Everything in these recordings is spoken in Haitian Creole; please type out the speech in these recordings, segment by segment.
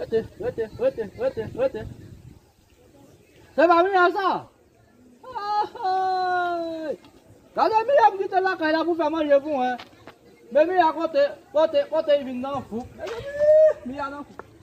Rete, rete, rete, rete, rete. Se pa miya sa? Ahay! Gade miya m kite lakay la pou fè manje pou mwen. Men miya kote, kote, kote li vin nan fou. Mezanmi, miya nan fou.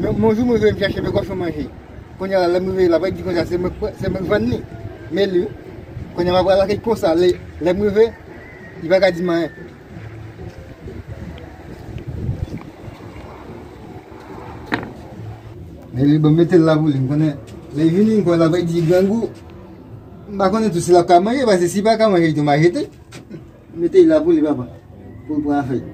Yon jou mwen vle chache de kòchon manje, kounye a la lè m rive la pa di konsa se mwen k vann li, men li wi, kounye a mwen pral aji konsa lè m rive li pa ka di m anyen. Men li bon m mete l la pou li, m konnen lè l vini ankò la pa di grangou, m pa konnen tou si l ap ka manje paske si l pa ka manje li tou m a jete. Mete la pou li papa. Pou l pran afè l.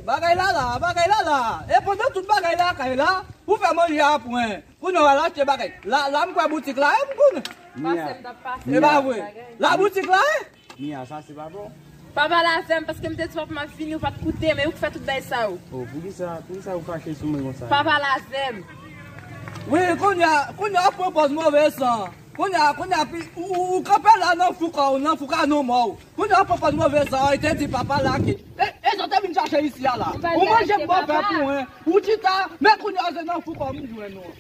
Bagay la la, bagay la la E pandan tout bagay la kay la Pou fè manje a pwen Pou nou al achte bagay La la m kwè boutik la e m konnen Pase m t ap pase m E pa vre La boutik la e Mia sa se pa bon. Pa pale avèm paskem te diw ap map vini ou pat koutem e ou ki fè tout bgy sa yo. Oh poukisa poukisa ou fache sou mwen konsa. Pa pale avèm. Wi kounya kounya wap pran pòz move san kounya kounya pi ou kanpe la nan fou kòw nan fou ka nou mòw kounya wap pran pòz move san an te di pa pale ak e sa ou te vin chache isi a la ou manjem bòpè pou mwen ou chita men kounya se nan fou kòw m jwenn ou.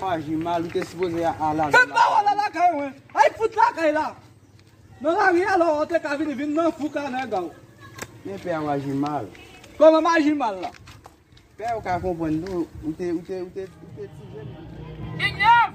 Faji mal ou te sipoze al lavé lakay ou. Fè pa ou al lakay ou men. Al fout lakay la. Nan lari a la ou te ka vini vin nan fou ka nan ega ou. Men pè a ou aji mal. Koman m aji mal la. Pè ou ka konprann tou ou te ti jèn. King Yov!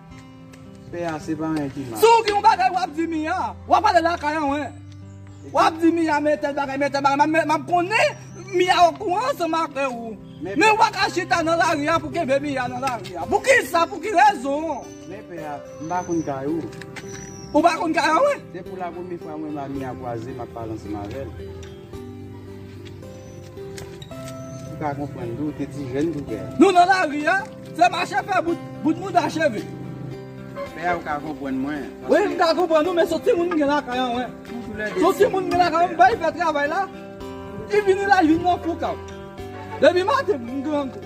Pè a se pa anyen ki mal. Si w gen yon bagay wap di Mia, wap ale lakay anwen. Wap di Mia men tèl bagay, men tèl bagay, map konnen Mia okouran ansanm avè ou. Men wap ka chita nan lari a pou kenbe Mia nan lari a. Poukisa, pou ki rezon? Men pè a, m pa konn kay ou. Ou pa konn kay anwen? Se pou la premye fwa mwen m a Mia kwaze map pale ansanm avè l. Ou pa konprann tou, ou te ti jèn pou fè a. Nou nan lari a, se mache fè bout, bout mouda cheve. Fè a ou ka konprann mwen. Wi m ka konprann ou men son ti moun m gen lakay an wen. Son ti moun m gen lakay an m bay fè travay la, li vini la li vini nan foukaw. Depi maten m grangou.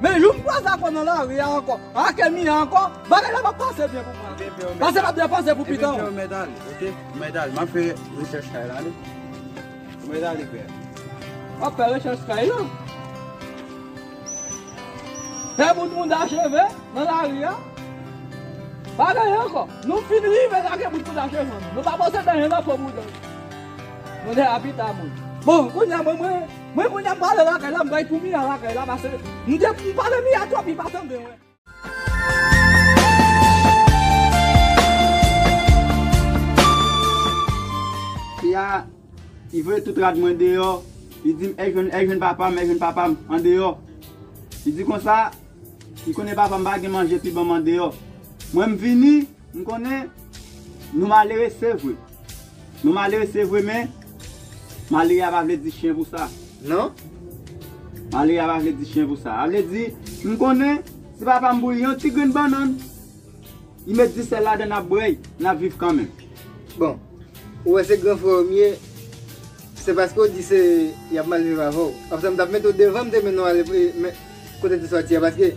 Men yon m kwaze ak ou nan lari a ankò, ak Emmy an ankò, bagay la p ap pase byen pou mwen ok, pase m ap depanse pou pitan w. Ebyen frè m mèt ale ok, m mèt ale, m ap fè rechèch kay la ok, m mèt ale frè. W ap fè rechèch kay la? Fè bout mouda cheve nan lari a? Pa genyen ankò, nou fin rive lage bout mouda cheve nou, nou pa panse benyen nan po mouda nou. Mouda a pita moun. Bon, kounya mwen mwen. Mwen konn ap pale lakay la m bay pou Mia lakay la pase m te m pale Mia twòp li pa tande mwen. Mia li voye tout rad mwen deyò li dim èh jwenn èh jwenn papa m èh jwenn papa m andeyò li di konsa li konnen papa m pa gen manje pi banm andeyò mwen m vini M konnen Nou malere sevre Nou malere sevre men Malere a pa vle di chyen pou sa nan Malere a pa vle di chyen pou sa A vle di M konnen Si papa m bouyi yon ti grenn bannann Li met di sèl ladann ap bwè l N ap viv kanmenm Bon Ou wè se gran frè w m ye Se paske w di se Y ap mal viv avè w Konsa m t ap mete w devan M te mennen w ale Kote w te soti a Paske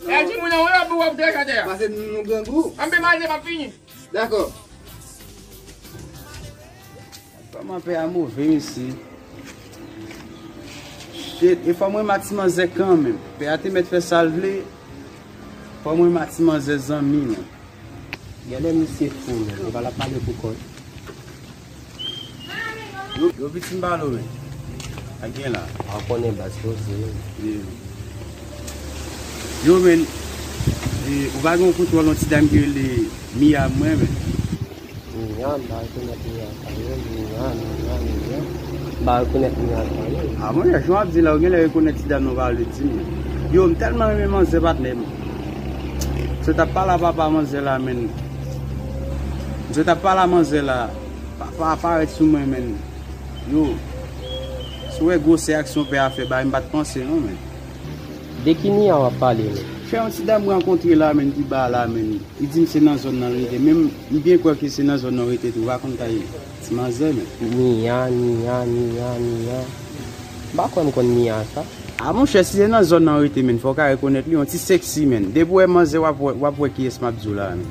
Epi ti moun nan wè pou wap dèj atè a. Pase nou nou grangou. Anpe manje map fini. Dakò. Kòman pè a move mesye. Shit e fò mwen ma ti manzè kanmenm. Pè a te mèt fè sal vle. Fò mwen ma ti manzè zanmi mwen. Genlè misye fou menm. Epa lap pale pou kòl. Yo vit sin balo men. A gen la. An konnen bas yo se. Yo men. Ou va gen kout wòl yon ti dam ki rele Mia mwen men. Mia ba yon konet Mia sa yo. Mia Mia Mia. Ba yon konet Mia sa yo. A mwen yon ap di la ou gen lè yon konet ti dam nan va le di men. Yo m telman renmen manzè patnè m. Se tap pala papa manzè la men. Msye tap pale a manzè la. Papa a parèt sou mwen menn yo si w wè gwosè aksyon pè a fè ba yo m pat panse non menn. De ki Mia wap pale menm. Fè yon ti dam m rankontre la menn ki ba la menn li di m se nan zòn nan li rete menm m byen kwè ke se nan zòn nan ou rete tou rakonta ye. Ti manzè menm. Mia Mia Mia Mia m pa kwè m konn Mia sa. Ah monchè si se nan zòn nan ou rete menn fò ou ka rekonèt li, yon ti sexy menn, depi ou wè manzè wap wè wap wè kiyès map di w la a menn.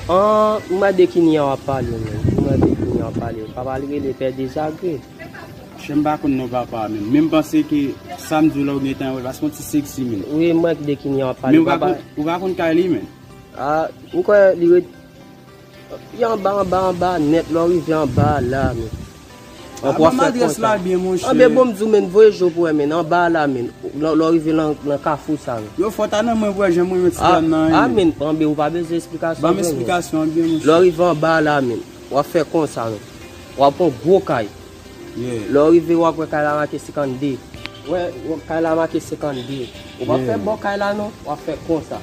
Ahh ou made ki Nia wap pale menm, ou made ki Nia wap pale, papa l rele pè dezagre. Monchè m pa konn non papa a menm, men m panse ke sam di w la ou gentan wè l paske yon ti sexy menn. Wi m wè de ki Nia wap pale, papa l. Men ou pa konn kay li menn. Ah m kwè li ret. Depi anba anba anba nèt lè w rive anba a la a menn. An pou ap fè konta. Anbe bon m di w menn voye je w pou w wè menn anba a la a menn lè w rive nan kafou sa menn. Yo fò ta nan mwen pou wè jan mwen yon ti dam nan an menn. Anbe ou pa bezwen esplikasyon pou mwen. Ban m esplikasyon an byen mouche. Lè w rive anba a la a menn w ap fè konsa menn. W ap wè gwo kay. Lè w rive w ap wè kay la make 52. Wè kay la make 52. Ou pa fè bò kay la non. W ap fè konsa.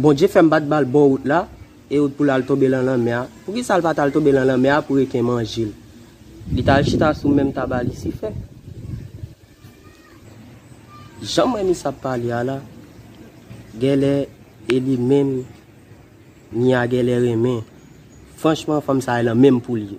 Bondye fè m pa t ba l bò wout la e wout pou l al tonbe lan lanmè a. Poukisa l pa t al tonbe lan lanmè a pou reken manje l? Li t al chita sou menm tab a Lisifè. Jan m renmen sa ap pale a la, gèlè e li menm Mia gèlè renmen. Franchman fanm sa e lan menm pou l ye.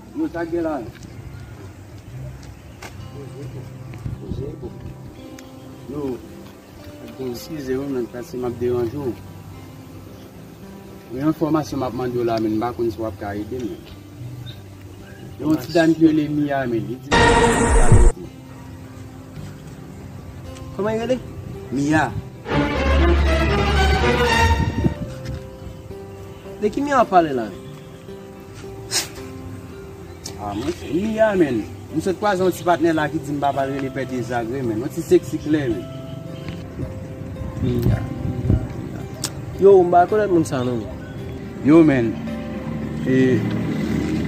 Yo sa gen la. Yo. Eskize wi men pase map deranje w. Yon enfomasyon map mande w la men mpa konn si wap ka ede m. Yon ti dam ki rele Mia men li di m pou m vin pale avè w. Koman li rele? Mia. De ki Mia wap pale la? Ah mwen se Mia menn. M sot kwaze yon ti patnè la ki di m pa pral rele pè dezagre menn. Yon ti seksi klè wi. Mia, Mia, Mia. Yow m pa rekonèt moun sa non menn. Yow menn. E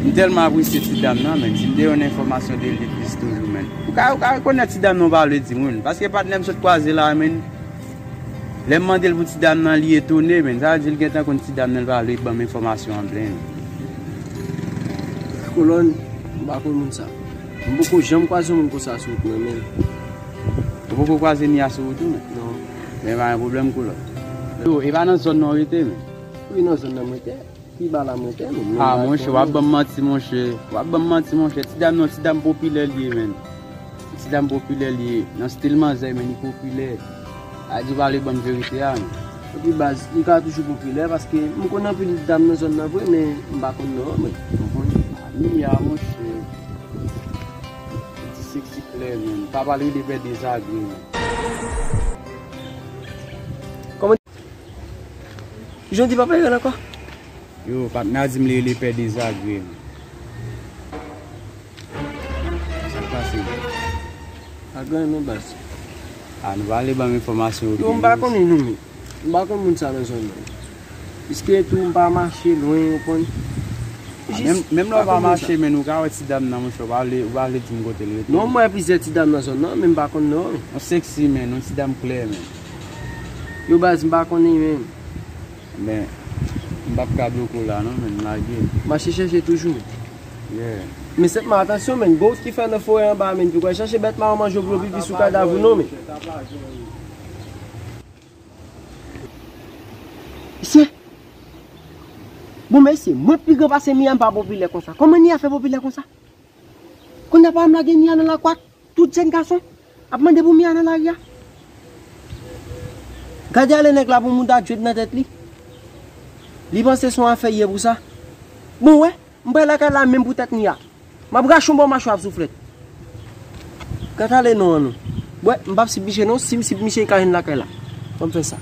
m tèlman apresye ti dam nan menn. Si m te yon enfòmasyon de li plis toujou menn. Ou ka rekonèt ti dam nan w pa vle di moun. Paske patnè m sot kwaze la menn. Lèm mandel pou ti dam nan li etone menn sa vle di li gentan konn ti dam nan li pa vle banm enfòmasyon an plen. Kolòn m pa konn moun sa. M poko janm kwaze yon moun konsa sou wout mwen menm. Ou poko kwaze Mia sou wout ou menm? Non. Ebyen pa gen pwoblèm kolòn. Yo, e pa nan zòn nan w rete menm? Wi nan zòn nan m rete. Ah monche wap banm manti monche wap banm manti monche ti dam nan ti dam popilè liye menn ti dam popilè liye nan stil manzè menn li popilè adi pale banm verite a non. Epi baz li ka toujou popilè paske m konn anpil dam nan zòn nan vre men m pa konn non an mwen konprann. Mia monche ou di sexy klè menn pa pale de pè dezagre non. Jodi pap rele l ankò. Yo patnè a di m li rele pè dezagre m. Sa k pase la? Pa gen anyen non baz. A nou pa ale banm enfòmasyon yo. Yo m pa konnen nou menm. M pa konn moun sa nan zòn nan. Piske tou m pa mache lwen ou konn. Jis. Menm lè w pa mache men ou ka wè ti dam nan monchè ou pa vle ou pa vle di m kote l rete. Non m wè plizyè ti dam nan zòn nan men m pa konn non l. Yon seksi menn yon ti dam klè menn. Yo baz m pa konnen menm. Ben m pap ka bloke w la non menn lage. Mache chèche toujou. Yeah. Men sèt man atansyon menn, goat ki fè nan forè anba a menn, piko al chache bèt maron manje w pou yo pipi sou kadav ou non menn. Mesye! Bon mesye, mwen pi gran pase Mia m pa popilè konsa. Kòman Nia fè popilè konsa? Kounya pa wè m lage Nia nan lakwak? Tout jèn gason ap mande pou Mia nan lari a. Gade ale nèg la pou mouda djwed nan tèt li. Li panse son afè ye pou sa. Bon wè, m pral lakay la menm pou tèt Mia. M ap rache yon bò machwè ak souflèt. Gad ale non an non. Wè, m pap sip misye non, si m sip misye li ka jwenn lakay la. Fò m fè sa.